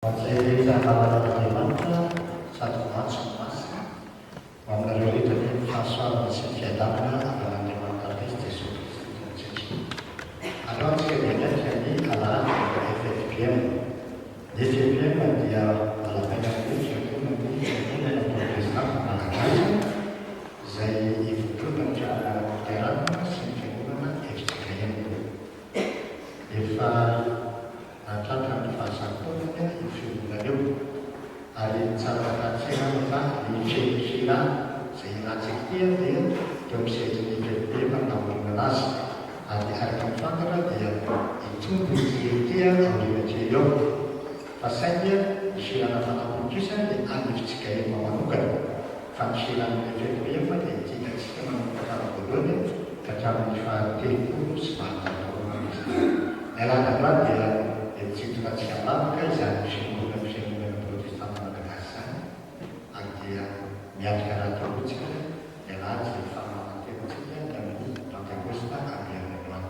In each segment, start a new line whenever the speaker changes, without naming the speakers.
Izay rehetra halalan'Andriamanitra sady maty no masina, ho aminareo rehetra anie ny fahasoavana sy ny fiadanana avy amin'Andriamanitra Antezy Jesoa Kristy Tompontsika. Aleo antsika dia miatrika ny Alahady vao FFPM. Ny FFPM dia Valabailan'ny Fiangonana ny Fiangonana Protestanta Malagasy izay ivondronan'ny Fiangonana Loterana sy ny Fiangonana FJKM. Efa. raha tratran'ny fahasamponany io fiangonana io, ary tsara hatsaranao fa ny feno hira izay hirantsika ity dia teo amin'ny sehatrin'ny PMP nampahoriana azy, ary araka ny fantatra dia hitombo ity hira ity aoriana kely eo, fa saingy ny hira nafanam-polo kosa dia alefontsika efa manokana. fa ny fihinanana efeto rehefa dia ity hitantsika manomboka hatramin'ny voalohany ka hatramin'ny fahatelopolo sy valonjato taona ho any izany. Ny alahandroany dia hetsitsinjona tsy avavaka izany fiangonan'ny fiangonana protestanta malagasy izany ary dia miatrika rahatoloantsika ny alahady izay ny fahamarantenantsika ny amin'ny pantekosta avy any androany.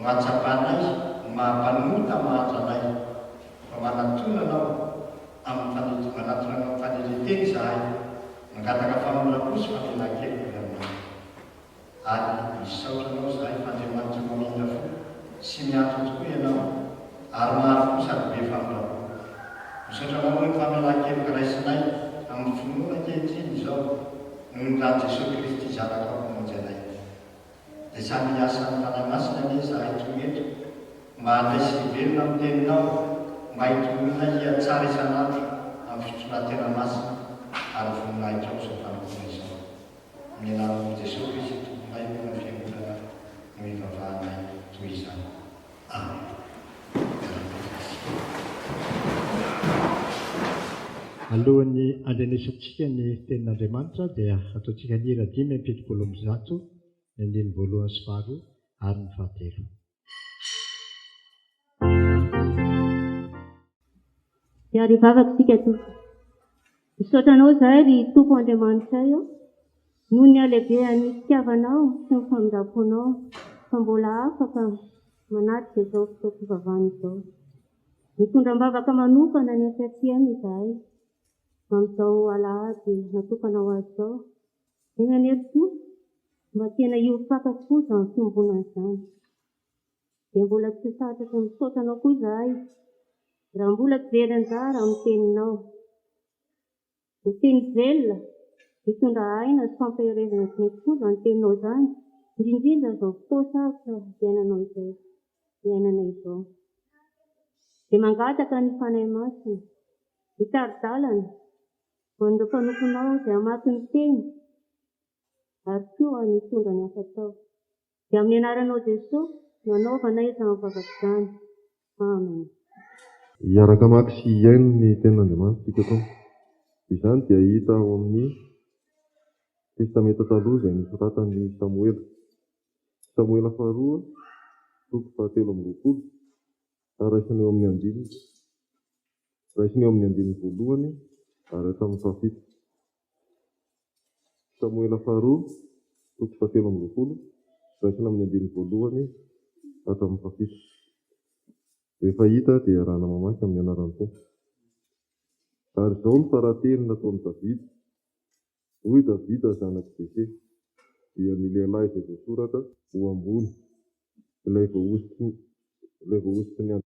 Mahatsapa anay, ny maha-mpanota mahantra anay, fa manatona Anao amin'ny faneti-, manatona Anao amin'ny fanetren-tena izahay, mangataka famoram-po sy famelan-keloka avy Aminao. Ary misaotra Anao izahay fa Andriamanitra mamindra fo sy miantso tokoa Ianao, ary mahary fo sady be famindram-po. Misaotra Anao noho ny famelan-keloka raisinay amin'ny finoana ankehitriny izao, noho ny ràn'i Jesoa Kristy Zanakao Mpamonjy anay. Dia samy hiasa amin'ny Fanahy Masina anie izahay toy eto mba handray sy hiverina amin'ny Teninao, mba hitolona hihatsara isan'andro amin'ny fitondran-tena masina ary voninahitro amin'izao fanompoana izao. Amin'ny anaran'i Jesoa Kristy Tomponay moa ny Fiangonana no ivavahanay toy izany. Alohan'ny handrenesantsika ny Tenin'Andriamanitra dia ataontsika ny hira dimy amby fitopolo amby zato, ny andininy voalohany sy faharoa ary ny fahatelo. Miarivavaka
isika Tompo. Misaotra Anao izahay, ry Tompo Andriamanitray ô, noho ny halehibehan'ny fitiavanao sy ny famindram-ponao fa mbola afaka manatrika izao fotoam-pivavahana izao. Mitondra am-bavaka manokana ny ankehitriny izahay, amin'izao alahady natokana ho azy izao, dia nanery koa mba tena hiorim-paka foza amin'ny fiombonana izany. Dia mbola tsy satrako misaotra anao koa izahay raha mbola tsy very anjara amin'ny teninao. Ny teny velona, mitondra aina sy fampaherezana tsy mety foza ny teninao izany, indrindrindra amin'izao fotoa sarotra iainanao izay, iainana izao. Dia mangataka ny Fanahy Masina, hitari-dalana ho an'ireo mpanomponao izay hamaky ny teny ary koa ny hitondra ny hafa tao. Dia amin'ny
anaranao Jesoa no anaovanay izany vavaka izany. Amen. Hiaraka hamaky sy hihaino ny Tenin'Andriamanitra isika koa. Izany dia hita ao amin'ny Testamenta Taloha izay nosoratan'i Samoela. Samoela Faharoa, toko fahatelo amby roapolo, ary raisina eo amin'ny andininy. Raisina eo amin'ny andininy voalohany ary hatramin'ny fahafito. Samoela Faharoa, toko fahatelo amby roapolo, raisina amin'ny andininy voalohany hatramin'ny fahafito. Rehefa hita dia iarahana mamaky amin'ny anaran'ny Tompo. Ary izao no faraha-teny nataon'i Davida, Hoy i Davida zanak'i Jese, dia ny lehilahy izay voasoratra ho ambony, ilay voahosotry ny andro.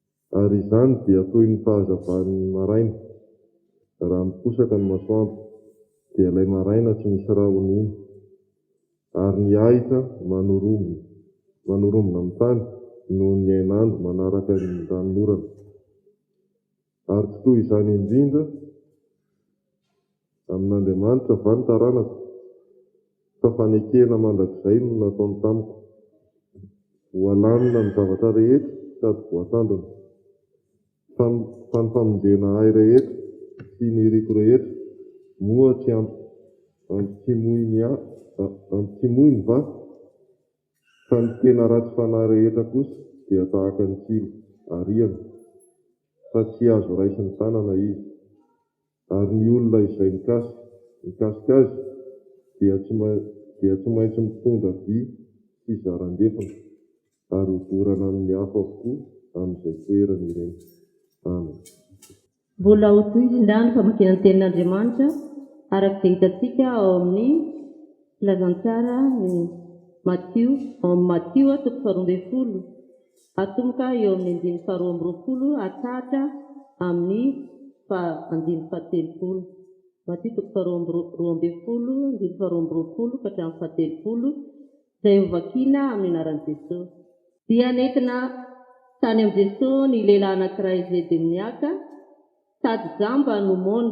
Ary izany dia toy ny fahazavan'ny maraina, raha miposaka ny masoandro, dia ilay maraina tsy misy rahona iny, ary ny ahitra manorombona, manorombona amin'ny tany noho ny hainandro manaraka ny ranonorana. Ary tsy toy izany indrindra. Amin'Andriamanitra va ny taranako? Sa fanekena mandrakizay no nataony tamiko? Voalamina ny zavatra rehetra sady voatandrina, fa ny famonjena ahy rehetra sy ny iriko rehetra moa tsy ampitsimoiny va? Fa ny tena ratsy fanahy rehetra kosa dia tahaka ny tsilo ariana, fa tsy azo raisin'ny tanana izy. Ary ny olona izay mikasika azy dia tsy maintsy mitondra vy sy zaran-defona, ary hodorana amin' ny afo avokoa amin' izay toerany ireny. Amena.
Mbola ho toy izay indray ny famakiana ny Tenin' Andriamanitra, araka izay hitantsika ao amin' ny Filazantsara ny Matio, ao amin' ny Matio, toko faharoa ambin'ny folo. atomboka eo amin'ny andininy faharoa amby roapolo hatsahatra amin'ny andininy fahatelopolo. Matio toko faharoa amby roa ambin'ny folo, andininy faharoa amby roapolo ka hatramin'ny fahatelopolo, izay hovakiana amin'ny anaran'i Jesosy. Dia nentina tany amin'i Jesosy ny lehilahy anankiray izay demoniaka, sady jamba no mony,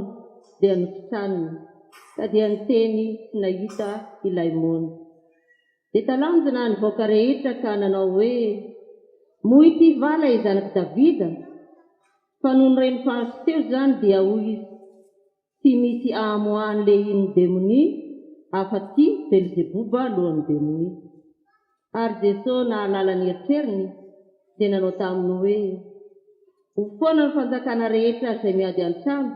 dia nositràniny, ka dia niteny sy nahita ilay mony. Dia talanjona ny vahoaka rehetra ka nanao hoe, Moa ity va ilay zanak'i Davida? Fa nony reny faritry teo izany dia hoy izy, Tsy misy ahamoahany lehin'ny demonia afa-tsy Belzeboba lohan'ny demonia. Ary Jesosy nahalala ny eritreriny dia nanao taminy hoe, Ho foana ny fanjakana rehetra izay miady an-trano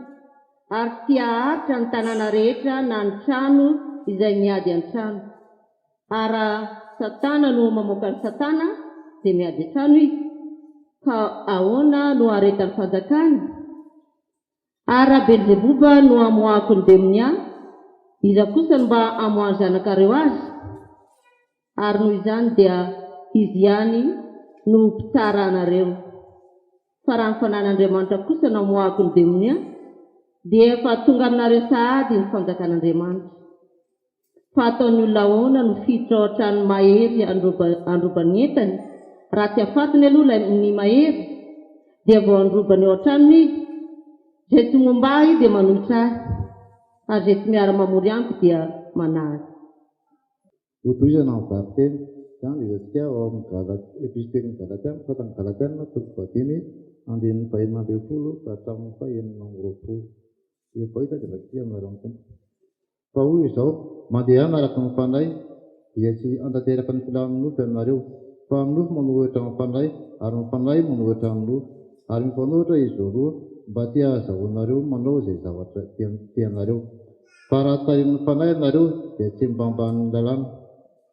ary tsy haharitra ny tanàna rehetra na ny trano izay miady an-trano. Ary raha Satana no mamoaka an'i Satana, dia miady an-trano izy. Ka ahoana no haharetan'ny fanjakany? Ary raha Belzeboba no amoahako ny demonia, iza kosa no mba hamoaha ny zanakareo azy? Ary noho izany dia izy ihany no ho mpitsara anareo. Fa raha ny Fanahin'Andriamanitra kosa no amoahako ny demonia, dia efa tonga aminareo sahady ny fanjakan'Andriamanitra. fa ataon'ny olona ahoana no fiditra ao an-tranon'ny mahery handroba ny entany? Raha tsy afatony aloha ilay ny mahery dia vao handroba ny ao an-tranony izy. Izay tsy momba ahy dia manohitra ahy, ary izay tsy miara-mamory amiko dia manahy.
Hotohizana ny varin-teny. Tsy andihizantsika ao amin'ny Gala, Epistilin' ny Galatiana, Sôratra ny Galatiana, toko fahadimy, andininy fahenina ambin'ny folo ka hatramin'ny fahenina amby roapolo. Efa hita dia vakiantsika amin'ny anaran'ny Tompo. Fa hoy izao, Mandehana araka ny Fanahy, dia tsy hantanteraka ny filàn'ny nofo ianareo, fa ny nofo manohitra ny Fanahy, ary ny Fanahy manohitra ny nofo, ary mifanohitra izy roa, mba tsy hahazahoanareo manao izay zavatra tianareo. Fa raha tarihin'ny Fanahy ianareo, dia tsy mba ambanin'ny lalàna.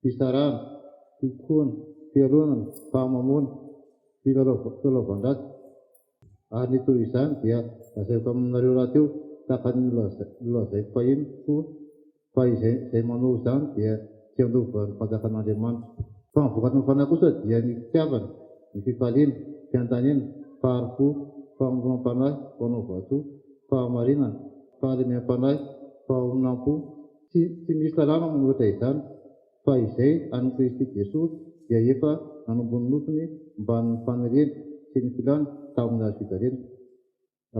fitsarana, fikoana, fialonana, fahamamoana, filalaovan-dratsy, ary ny toy izany dia lazaiko aminareo rahateo tahaka ny nolazaiko fahiny koa fa izay manao izany dia tsy handova ny fanjakan'Andriamanitra. Fa ny vokatry ny fanahy kosa dia ny fitiavana, ny fifaliana, fiandaniana, fahari-po, famonoam-panahy, fanaovan-tsoa, fahamarinana, fahalemem-panahy, fahonam-po, Tsy tsy misy lalàna manoratra izany, fa izay an'i Kristy Jesoa dia efa nanomboha ny nofiny mbamin'ny faniriany sy ny filàny tamin'ny hazo fijaliana.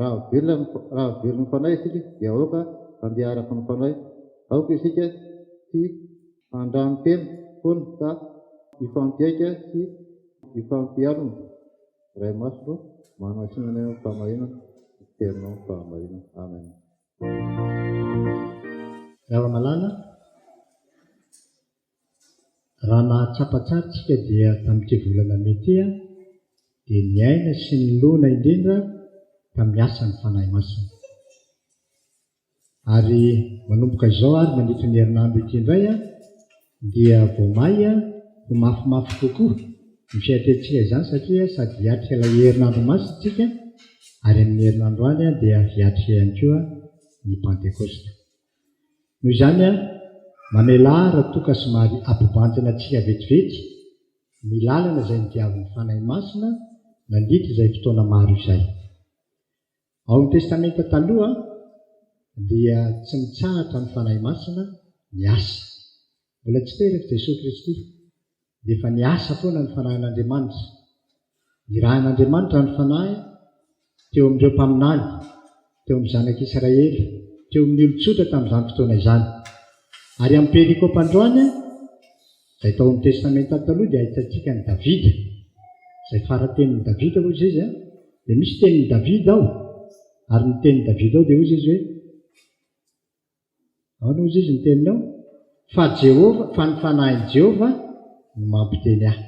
Raha velona ny raha velon'ny Fanahy isika dia aoka handeha araka ny Fanahy. Aoka isika tsy handranotena foana fa hifampihaika sy hifampialona. Ray Masina ô, manasina anay amin'ny fahamarinana, iteninao ny fahamarinana. Amen.
Ravamalala, Raha nahatsapa tsara isika dia tamin'ity volana mey ity aho dia niaina sy nilona indrindra tamin'ny asan'ny Fanahy Masina. Ary manomboka izao ary mandritry ny herinandro ity indray aho dia vao may ho mafimafy kokoa ny fiatrehitsika izany satria sady hiatrika ilay herinandro masina isika ary amin'ny herinandro any dia hiatrika ihany koa ny Pantekosta. Noho izany, mamelà Ratoka somary ampibanjina antsika vetivety ny lalana izay nodiavin'ny Fanahy Masina nandritra izay fotoana maro izay. Ao amin'ny Testamenta Taloha dia tsy mitsahatra ny Fanahy Masina miasa. Mbola tsy terak'i Jesoa Kristy dia efa niasa foana ny Fanahin'Andriamanitra. Nirahin'Andriamanitra ny Fanahy teo amin'ireo mpaminany, teo amin'ny zanak'Israely, teo amin'ny olon-tsotra tamin'izany fotoana izany. Ary amin'ny perikopa androany Izay tao amin'ny Testamenta Taloha dia ahitantsika an'i Davida, izay fara-tenin'i Davida, hoy izy a, dia misy tenin'i Davida ao, ary ny tenin'i Davida ao dia hoy izy hoe, ahoana hoy izy ny teniny ao? Fa Jehovah, fa ny fanahin'i Jehovah no mampiteny ahy.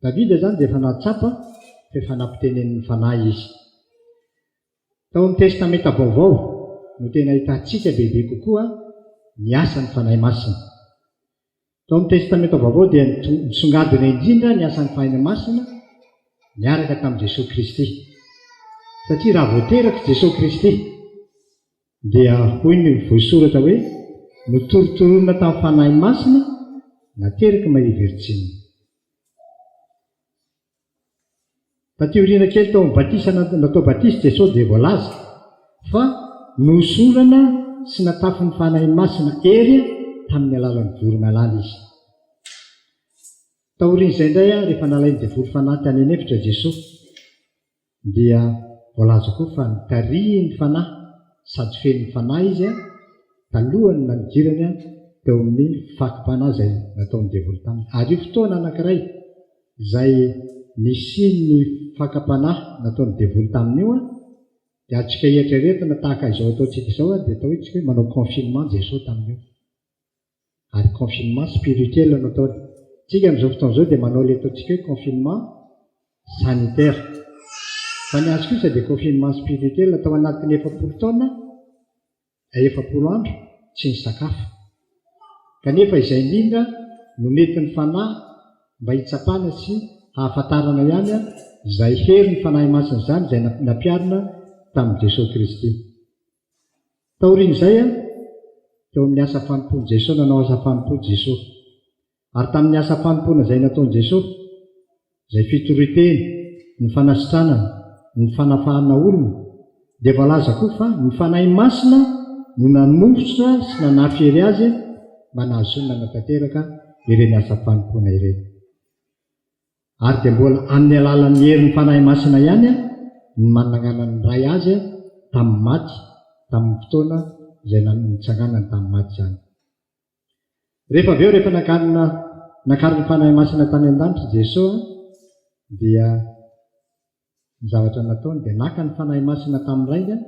Davida izany dia efa nahatsapa fa efa nampitenenin'ny Fanahy izy. Tao amin'ny Testamenta Vaovao no tena ahitantsika bebe kokoa ny asan'ny Fanahy Masina. Tao amin'ny Testamenta Vaovao dia nisongadina indrindra ny asan'ny Fanahy Masina niaraka tamin'i Jesoa Kristy. Satria raha vao terak'i Jesoa Kristy dia hoy ny voisoratra hoe notorotoronina tamin'ny Fanahy Masina nateraky Maria Virjina. Taty aoriana kely tao amin'ny batisa natao batisa i Jesosy dia voalaza fa nohosorana sy natafin'ny Fanahy Masina hery tamin'ny alalan'ny voromailala izy. Taorian'izay indray, rehefa nalain'ny devoly fanahy tany an'efitra i Jesosy, Dia voalaza koa fa nitarihin'ny Fanahy sady feno Fanahy izy talohan'ny nanigirany teo amin'ny fakam-panahy izay nataon'ny devoly taminy. Ary io fotoana anankiray izay nisian'ny fakam-panahy nataon'ny devoly taminy io dia azontsika eritreretina tahaka izao ataontsika izao dia atao hoe tsika hoe manao confinement Jesoa tamin'io. Ary confinement spirituel no ataony. Tsika amin'izao fotoana izao dia manao ilay ataontsika hoe confinement sanitaire. Fa ny azy kosa dia confinement spirituel tao anatin'ny efapolo taona, efapolo andro tsy nisakafo. Kanefa izay indrindra no mety ny Fanahy mba hitsapana sy hahafantarana ihany izay herin'ny Fanahy Masina izany izay nampiharina tamin'i Jesoa Kristy. Taorian'izay, teo amin'ny asa fanompoan'i Jesosy, nanao asa fanompoana Jesosy. Ary tamin'ny asa fanompoana izay nataon'i Jesosy, izay fitorian-teny, ny fanasitranana, ny fanafahana olona, dia voalaza koa fa ny Fanahy Masina no nanositra sy nanafiery azy mba nahazoany nanatanteraka ireny asa fanompoana ireny. Ary dia mbola amin'ny alalan'ny herin'ny Fanahy Masina ihany no nanagnanan'ny Ray Azy tamin'ny maty tamin'ny fotoana izay nitsanganany tamin'ny maty izany. Rehefa avy eo, rehefa nakarina, nakarin'ny Fanahy Masina tany an-danitra i Jesoa, dia. Ny zavatra nataony dia naka ny Fanahy Masina tamin'ny raingany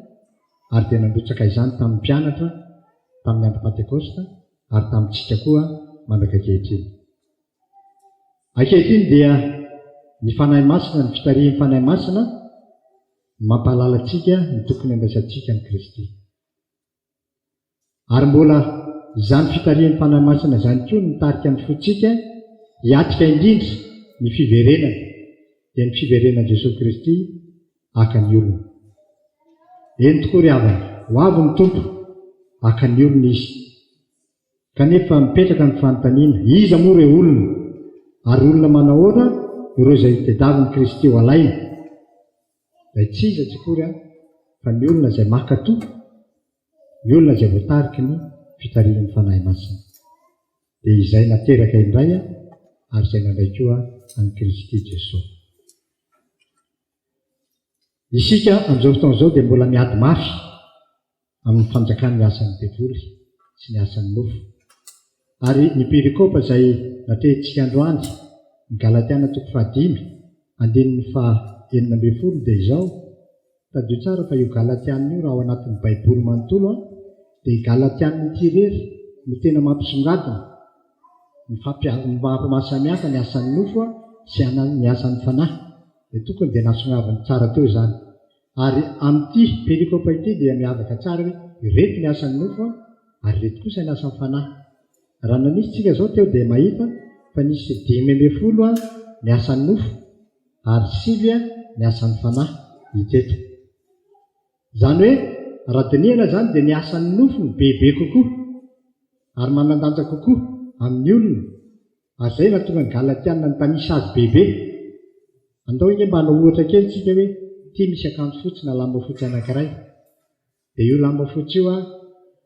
ary dia nandrotsaka izany tamin'ny mpianatra tamin'ny Andro Pantekosta ary tamintsika koa mandraka ankehitriny. Ankehitriny dia ny Fanahy Masina, ny fitarihin'ny Fanahy Masina no mampahalala antsika ny tokony handraisantsika an'i Kristy. Ary mbola izany fitarihan'ny Fanahy Masina izany koa no mitarika ny fontsika hiatrika indrindra ny fiverenana, dia ny fiverenan'i Jesoa Kristy haka ny olony. Eny tokoa ry havana, ho avy ny Tompo, haka ny olony Izy. Kanefa mipetraka ny fanontaniana, iza moa ireo olona? Ary olona manahoana ireo izay tediavin'i Kristy ho alaina? izay tsy iza tsy akory an, fa ny olona izay maka toky, ny olona izay voatariky ny fitarihan'ny Fanahy Masina. Dia izay nateraka indray an, ary izay nandray koa an'i Kristy Jesoa. Isika amin'izao fotoana izao dia mbola miady mafy amin'ny fanjakany ny asan'ny devoly sy ny asan'ny nofo. Ary ny perikopa izay natrehintsika androany, ny Galatiana toko fahadimy, andininy faha enina ambin'ny folo dia izao, tadidio tsara fa io Galatiana io raha ao anatin'ny baiboly manontolo an, dia i Galatiana ity irery no tena mampisongadina ny fampia, mahasamihafa ny asan'ny nofo sy ny asan'ny fanahy. Dia tokony dia nasongadiny tsara teo izany. Ary amin'ity perikopa ity dia miavaka tsara hoe ireto ny asan'ny nofo an, ary ireto kosa ny asan'ny fanahy. Raha nanisy tsika izao teo dia mahita fa nisy dimy ambin'ny folo an ny asan'ny nofo ary sivy an ny asan'ny fanahy hita eto. Izany hoe raha dinihana izany dia ny asan'ny nofo no bebe kokoa ary manandanja kokoa amin'ny olona. Azay nahatonga ny Galatiana nitanisa azy bebe. Andao ange mba hanao ohatra kely tsika hoe ity misy akanjo fotsy na lamba fotsy anankiray. Dia io lamba fotsy io an,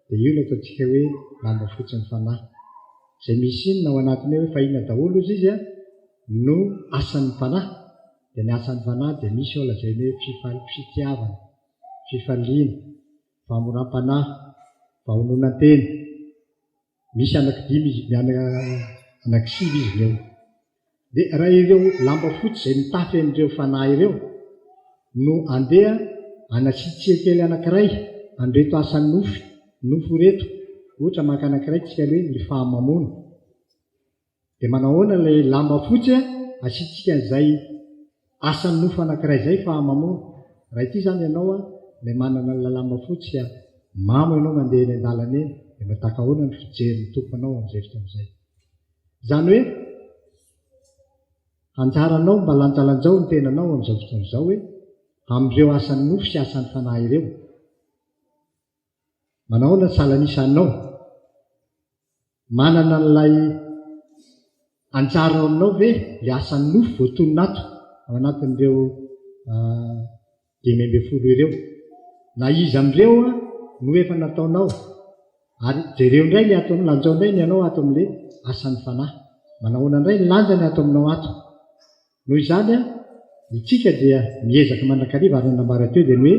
dia io ilay ataontsika hoe lamba fotsin'ny fanahy. Izay misy inona ao anatiny ao efa inona daholo ozy izy an, no asan'ny fanahy. Dia ny asan'ny fanahy dia misy ao lazainy hoe fifal, fitiavana, fifaliana, famoram-panahy, fahononan-tena. misy anaky dimy izy mianaka anaky sivy izy ireo dia raha ireo lamba fotsy izay mitafy an'ireo fanahy ireo no andeha anatsitsiha kely anakiray an'ireto asan'ny nofy nofo ireto ohatra maka anakiray tsika aloha hoe ny fahamamoana Dia manao ahoana ilay lamba fotsy a? Asiantsika an'izay asan'ny nofo anankiray izay fa mamono. Raha ity izany ianao a, ilay manana an'ilay lamba fotsy a, mamo ianao mandeha eny an-dalana eny, dia mba tahaka ahoana ny fijerin'ny Tompo anao amin'izay fotoana izay? Izany hoe, anjaranao mba lanjalanjao ny tenanao amin'izao fotoana izao hoe, amin'ireo asan'ny nofo sy asan'ny fanahy ireo. Manao ahoana ny salan'isa anao? Manana an'ilay anjara ao aminao ve ilay asan'ny nofo voatonona ato ao anatin'ireo ah, dimy ambin'ny folo ireo? Na iza amin'ireo ah, no efa nataonao? Ary jereo indray ilay ataonao, lanjao indray ny anao ato amin'ilay asan'ny Fanahy. Manao ahoana indray ny lanjany ato aminao ato? Noho izany, isika dia miezaka mandrakariva ary ny nambara teo dia ny hoe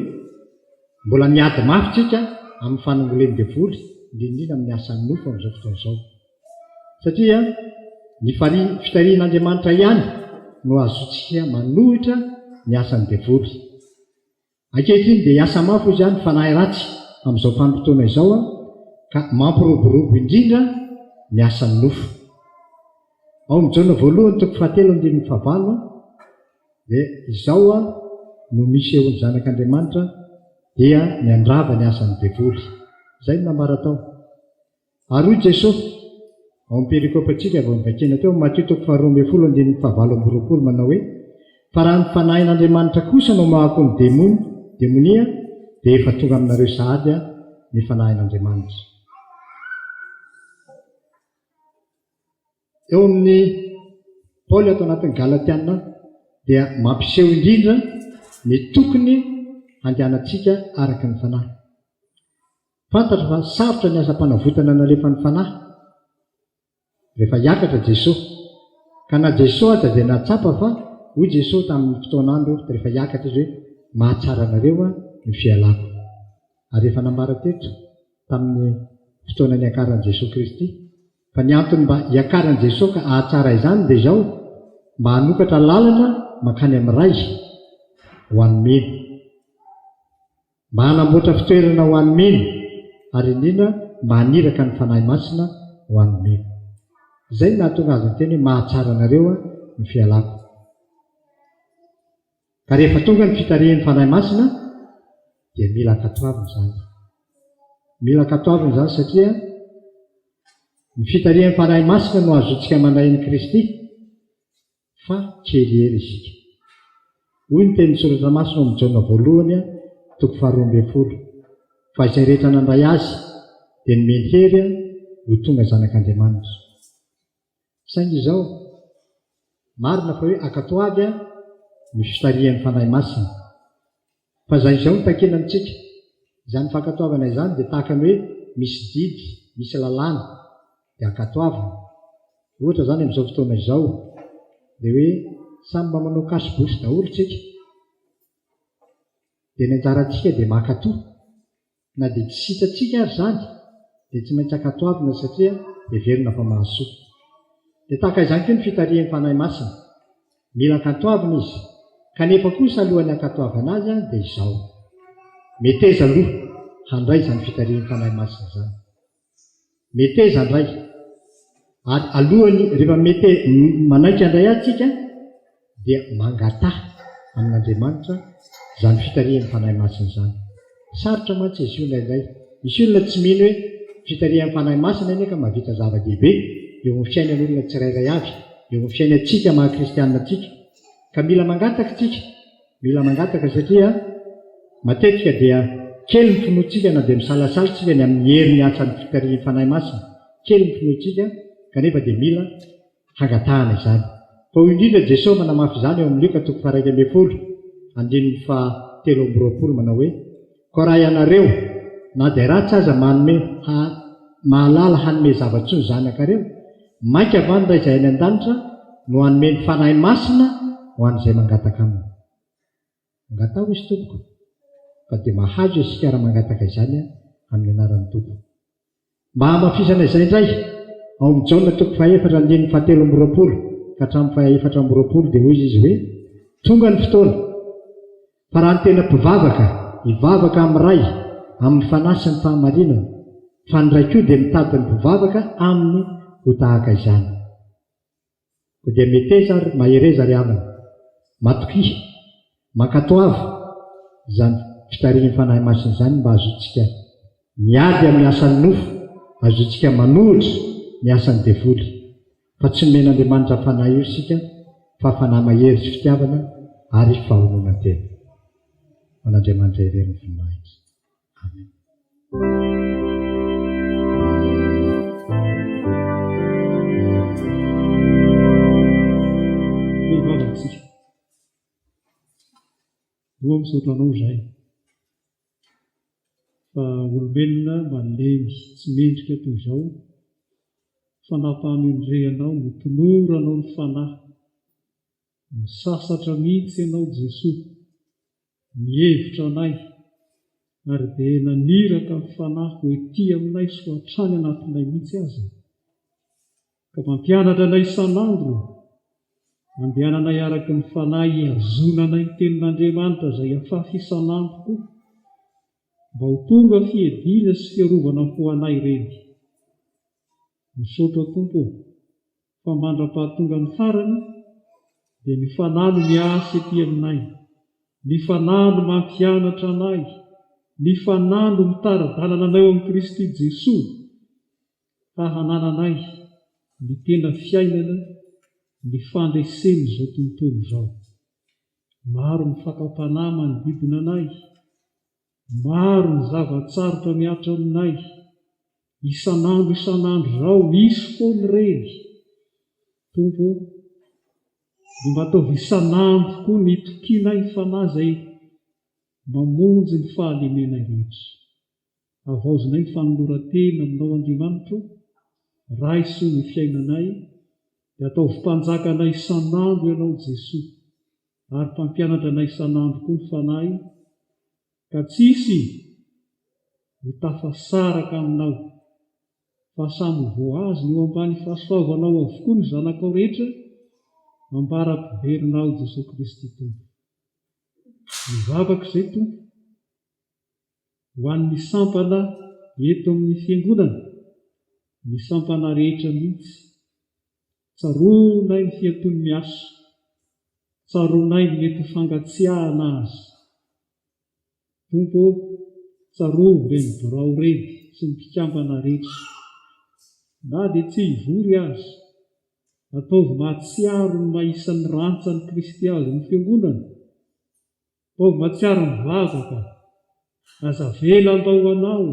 mbola miady mafy isika amin'ny fanongolen'ny devoly indrindra indrindra amin'ny asan'ny nofo amin'izao fotoana izao. Satria ny fitarihin'Andriamanitra ihany no ahazoantsika manohitra ny asan'ny devoly. Ankehitriny dia hiasa mafy hoy izany ny fanahy ratsy amin'izao vanim-potoana izao ka mampiroborobo indrindra ny asan'ny nofo. Ao amin'ny Jaona voalohany toko fahatelo andininy fahavalo dia izao no misehoan'ny zanak'Andriamanitra dia miandrava ny asan'ny devoly. Izay no nambara tao. Ary hoy Jesosy, ao amin'ny perikopantsika vao novakiana teo, Matio toko faharoa ambin'ny folo andininy fahavalo amby roapolo, manao hoe, Fa raha ny Fanahin'Andriamanitra kosa no mahako ny demony, demonia, dia efa tonga aminareo sahady Aho, ny Fanahin'Andriamanitra. Eo amin'ny Paoly ato anatin'ny Galatiana dia mampiseho indrindra ny tokony handehanantsika araka ny Fanahy. Fantatro fa sarotra ny asam-panavotana nalefan'ny Fanahy rehefa hiakatra Jesoa. Ka na Jesoa aza dia nahatsapa fa hoy Jesoa tamin'ny fotoan'andro rehefa hiakatra Izy hoe, Mahatsara anareo aho ny fialako. Ary efa nambara teto tamin'ny fotoana niakaran'i Jesoa Kristy fa ny antony mba hiakaran'i Jesoa ka hahatsara izany dia izao, mba hanokatra lalana mankany amin'ny Ray ho an'ny mino. Mba hanamboatra fitoerana ho an'ny mino, ary indrindra mba haniraka ny Fanahy Masina ho an'ny mino. Izay no nahatonga Azy niteny hoe, Mahatsara anareo Aho ny fialako. Ka rehefa tonga ny fitarihin'ny Fanahy Masina, dia mila ankatoavina izany. Mila ankatoavina izany satria ny fitarihin'ny Fanahy Masina no ahazoantsika manahiny Kristy. fa kely ery isika. Hoy ny tenin'ny Soratra Masina ao amin'ny Jaona Voalohany, toko faharoa ambin'ny folo, Fa izay rehetra nandray Azy, dia nomeny hery ho tonga zanak'Andriamanitra. Saingy izao, marina fa hoe ankatoavy ny fitarihan'ny Fanahy Masina, Fa izany izao no takina amintsika. Izany fankatoavana izany dia tahaka ny hoe misy didy, misy lalàna, dia ankatoavina. Ohatra izany amin'izao fotoana izao, ilay hoe samy mba manao cache-bouche daholo isika, dia ny anjarantsika dia mankatoa. Na dia tsy sitratsika ary izany, dia tsy maintsy ankatoavina satria heverina fa mahasoa. Dia tahaka izany koa ny fitarihan'ny Fanahy Masina. Mila ankatoavina izy. Kanefa kosa alohan'ny hankatoavana azy dia izao. Meteza aloha handray izany fitarihan'ny Fanahy Masina izany. Meteza indray. Ary alohany, rehefa mete, manaiky andray ahy tsika, dia mangataha amin'Andriamanitra izany fitarihan'ny Fanahy Masina izany. Sarotra mantsy izy io indraindray. Misy olona tsy mino hoe fitarihan'ny Fanahy Masina anie ka mahavita zava-dehibe eo amin'ny fiainan'olona tsirairay avy, eo amin'ny fiainantsika maha-kristianina antsika. Ka mila mangataka tsika. Mila mangataka satria matetika dia kely ny finoantsika na dia misalasala isika ny amin'ny herin'ny asan'ny fitarihin'ny Fanahy Masina, kely ny finoantsika kanefa dia mila hangatahana izany. Fa hoy indrindra Jesoa manamafy izany ao amin'ny Lioka toko faha iraika ambin'ny folo, andininy faha telo amby roapolo manao hoe. Koa raha ianareo, na dia ratsy aza, manome, ha, mahalala hanome zava-tsoa ny zanakareo, mainka va ny Ray izay any an-danitra no hanome ny Fanahy Masina ho an'izay mangataka Aminy? Angataho izy, tompoko, fa dia mahazo isika raha mangataka izany amin'ny anaran'ny Tompo. Mba hamafisana izay indray, ao amin'i Jaona toko fahaefatra andininy fahatelo amby roapolo ka hatramin'ny fahaefatra amby roapolo dia hoy izy hoe, Tonga ny fotoana, fa raha ny tena mpivavaka hivavaka amin'ny Ray amin'ny fanahy sy ny fahamarinana, fa ny Ray koa dia mitady ny mpivavaka aminy ho tahaka izany. Ko dia meteza ary mahereza ry havana. Matokia, mankatoava izany fitarihin'ny Fanahy Masina izany mba hazotsika miady amin'ny asan'ny nofo, hazotsika manohitra ny asan'ny devoly. Fa tsy nomen'Andriamanitra fanahy io isika fa fanahy mahery sy fitiavana ary fahononan-tena. Ho an'Andriamanitra irery ny voninahitra. Toa misaotra anao izahay fa olombelona malemy tsy mendrika toy izao fanapahamendrehanao no toloranao ny fanahy misasatra mihitsy ianao Jesoa Mihevitra anay, ary dia naniraka ny Fanahy ho ety aminay sy ho hatrany anatinay mihitsy aza, ka mampianatra anay isan'andro, andehananay araka ny Fanahy hihazonanay ny Tenin'Andriamanitra izay afafy isan'andro koa, mba ho tonga fiediana sy fiarovana ho anay ireny. Misaotra Tompo ô! fa mandra-pahatonga ny farany dia ny Fanahy no miasa ety aminay, ny Fanahy no mampianatra anay, ny Fanahy no mitari-dalana anay eo amin'i Kristy Jesoa ka hanananay ny tena fiainana ny fandresen'izao tontolo izao. Maro ny fakam-panahy manodidina anay. Maro ny zava-tsarotra mihatra aminay, isan'andro isan'andro izao, misy foana ireny, Tompo o, dia mba ataovy isan'andro koa ny itokianay Fanahy izay mamonjy ny fahalemenay rehetra. Havaozinay ny fanoloran-tena aminao Andriamanitra o, Ray soa ny fiainanay, dia ataovy Mpanjakanay isan'andro Ianao Jesoa. Ary mpampianatra anay isan'andro koa ny Fanahy, ka tsy hisy ho tafasaraka aminao, fa samy ho voahazona eo ambany fahasoavanao avokoa ny zanakao rehetra, ambara-piverinao Jesoa Kristy Tompo.
Mivavaka izay Tompo. Ho an'ny sampana eto amin'ny Fiangonana, ny sampana rehetra mihitsy, tsaroanay ny fiatoan'ny miasa, tsaroanay ny mety ho fangatsiahana aza. Tompo ô, tsaroa ireny birao ireny sy ny mpikambana rehetra. Na dia tsy hivory aza, ataovy mahatsiaro ny maha isan'ny rantsan'i Kristy azy ny Fiangonana. Vao mahatsiaro ny vaza ka. Aza avela handao ho anao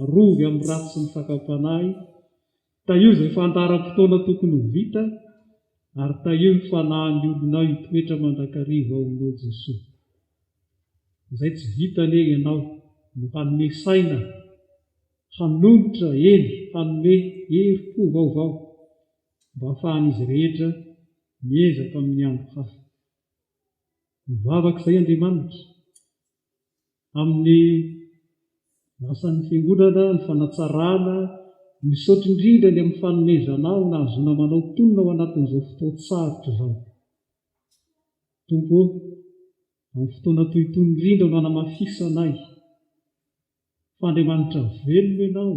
arovy amin'ny ratsy sy ny fakam-panahy, tahio izay fandaharam-potoana tokony ho vita ary tahio ny fanahin'ny olonao hitoetra mandrakariva ao aminao Jesoa. Izay tsy vita anie ianao no hanome saina hanonitra, eny hanome herim-po vaovao mba hahafahan'izy rehetra miezaka amin'ny andro hafa. Mivavaka izay Andriamanitra, amin'ny asan'ny fiangonana, ny fanatsarana, misaotra indrindra ny amin'ny fanomezanao nahazoana manao tonona ao anatin'izao fotoan-tsarotra izao. Tompo ô, amin'ny fotoana toy itony indrindra no anamafisanay. fa Andriamanitra velona ianao,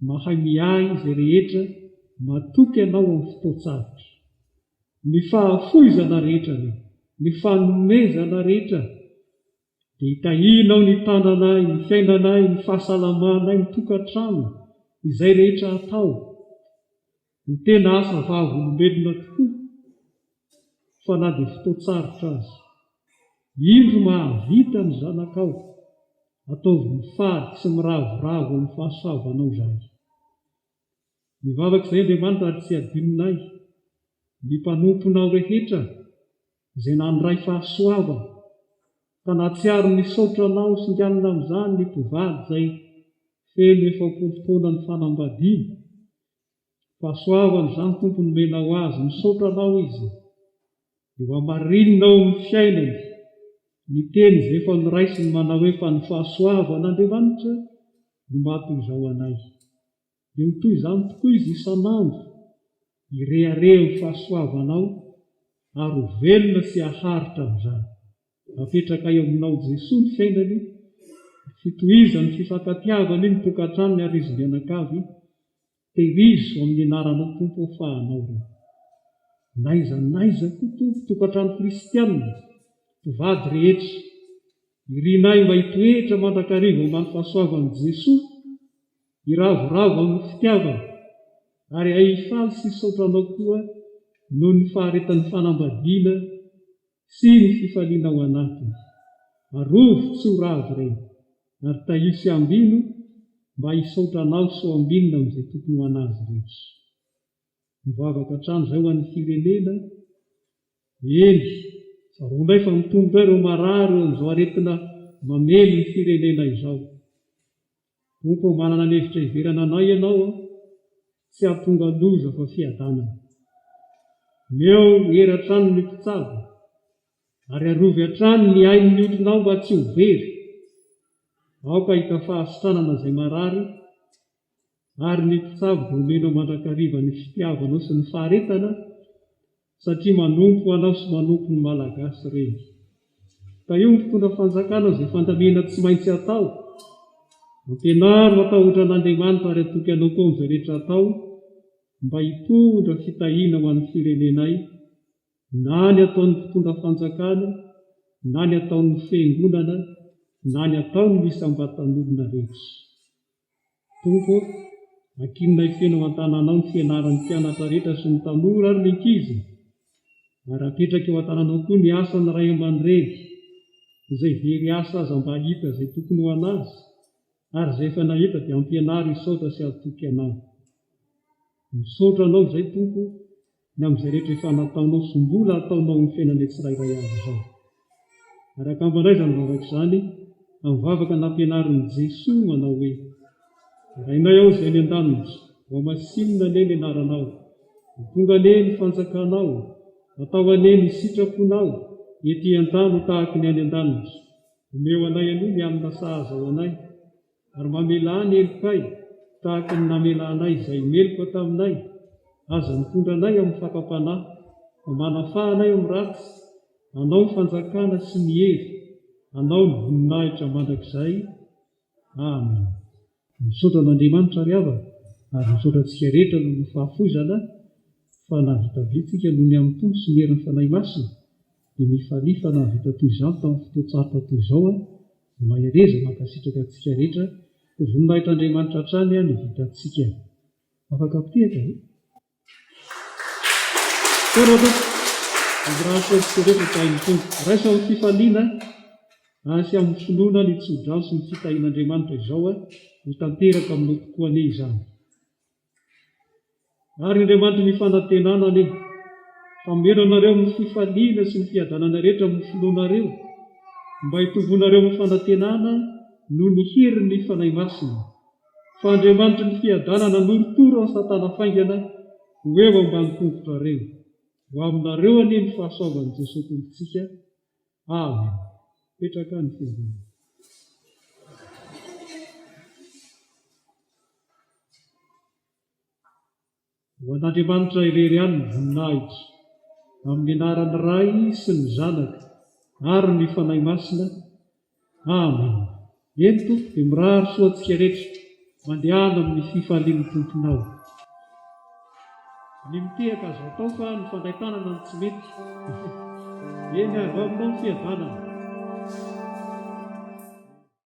mahay miahy izay rehetra matoky anao amin'ny fotoan-tsarotra. Ny fahafoizana rehetra ary ny fanomezana rehetra dia itahianao ny tananay, ny fiainanay, ny fahasalamanay, ny tokantrano, izay rehetra atao. Ny tena asa vavolombelona tokoa, fa na dia fotoan-tsarotra aza. Indro mahavita ny zanakao, ataovy mifady sy miravoravo amin'ny fahasoavanao izahay. Ny vavak'izay Andriamanitra ary tsy hadinonay, ny mpanomponao rehetra izay nandray fahasoavana, ka nahatsiaro ny saotranao singanina amin'izany ny mpivady izay feno efapolo taona ny fanambadiany, Fahasoavana izany Tompo nomenao azy, misaotra Anao izy dia ho hamarinina ao amin'ny fiainany ny teny izay efa noraisiny manao hoe fa ny fahasoavan'Andriamanitra no maha toy izao anay. Dia ho toy izany tokoa izy isan'andro hirehareha ny fahasoavanao ary ho velona sy haharitra amin'izany. Napetraka eo aminao Jesoa ny sendany, ny fitohizan'ny fifankatiavany ny tokantranony ary izy mianakavy, Tehirizo amin'ny anaranao Tompo ô fa anao ireo. N'aiza n'aiza koa Tompo tokantrano kristianina, mpivady rehetra, irinay mba hitoetra mandrakariva ambany fahasoavan'i Jesoa, hiravoravo amin'ny fitiavany ary hay hifaly sy hisaotra anao koa noho ny faharetan'ny fanambadiana, Sy ny fifaliana ao anatiny. Arovy tsy ho ravo ireny, ary tahio sy ambino mba hisaotra anao sy ho ambinina amin'izay tokony ho an'azy rehetra. Mivavaka hatrany izay ho an'ny firenena, eny, tsaroa indray fa mitombo indray ireo marary eo amin'izao aretina mamely ny firenena izao. Tompo ô manana ny hevitra hiverana anay ianao a, tsy hahatonga loza fa fiadanana. Omeo hery hatrany ny mpitsabo ary arovy hatrany ny ain'ny olonao mba tsy ho very. Aoka hahita fahasitranana izay marary ary ny mpitsabo dia omenao mandrakariva ny fitiavanao sy ny faharetana. satria manompo anao sy manompo ny Malagasy reny. Tahio ny mpitondra fanjakana izay fandamina tsy maintsy atao. Ampianaro matahotra an'Andriamanitra ary atoky anao koa amin'izay rehetra atao mba hitondra fitahiana ho an'ny firenenay na ny ataon'ny mpitondra fanjakana na ny ataon'ny fiangonana na ny ataon'ny isam-batan'olona rehetra. Tompo ô, ankinonay feno ao an-tananao ny fianaran'ny mpianatra rehetra sy ny tanora ary ny ankizy, ary apetraka eo an-tananao koa ny asan'ny ray aman-dreny, izay very asa aza mba hahita izay tokony ho an'azy, ary izay efa nahita dia ampianaro hisaotra sy hatoky anao. Misaotra anao izay Tompo o. ny amin'izay rehetra efa nataonao sy mbola ataonao amin'ny fiainanay tsirairay avy izao. Ary angamba indray izany vavaka izany, amin'ny vavaka nampianarin'i Jesoa manao hoe, Rainay ao izay any an-danitra, voamasinina anie ny anaranao, ho tonga anie ny fanjakanao, atao anie ny sitraponao ety an-tany ho tahaka ny any an-danitra, omeo anay aloha ny hanina sahaza ho anay, ary mamelà ny helokay tahaka ny namelanay izay meloka taminay, aza mitondra anay amin'ny fakam-panahy, fa manafaha anay amin'ny ratsy, Anao ny fanjakana sy ny hery, Anao ny voninahitra mandrakizay. Amena. Misaotra an'Andriamanitra ry havana, ary misaotra antsika rehetra noho ny fahafoizana, fa nahavita betsaka noho ny amin'ny Tompo sy ny herin'ny Fanahy Masina, dia ny farihy fa nahavita toy izany tamin'ny fotoan-tsarotra toy izao aho dia mahereza mankasitraka antsika rehetra ho voninahitr'Andriamanitra hatrany ny vitantsika afaka apotehitra ve? Tsara tompoko mandrahatra antsika rehetra tahin'ny Tompo raisa amin'ny fifaliana ary sy amin'ny finoana ny tsodrano sy ny fitahian'Andriamanitra izao aho ho tanteraka aminao tokoa anie izany Ary Andriamanitry ny fanantenana anie hameno anareo amin'ny fifaliana sy ny fiadanana rehetra amin'ny finoanareo, mba hitomboanareo amin'ny fanantenana noho ny herin'ny Fanahy Masina. Fa Andriamanitry ny fiadanana hanorotoro an'i Satana faingana ho eo ambany tongotrareo. Ho aminareo anie ny fahasoavan'i Jesoa Tompontsika, Avy, petraka ny fiangonana. Ho an'Andriamanitra irery ihany ny voninahitra, amin'ny anaran'ny Ray sy ny Zanaka ary ny Fanahy Masina. Amena. Eto dia mirary soa antsika rehetra, mandehana amin'ny fifalian'ny Tomponao. Ny mitehaka azo atao fa ny fandray tanana no tsy mety. Eny, avy ao Aminao ny fiadanana.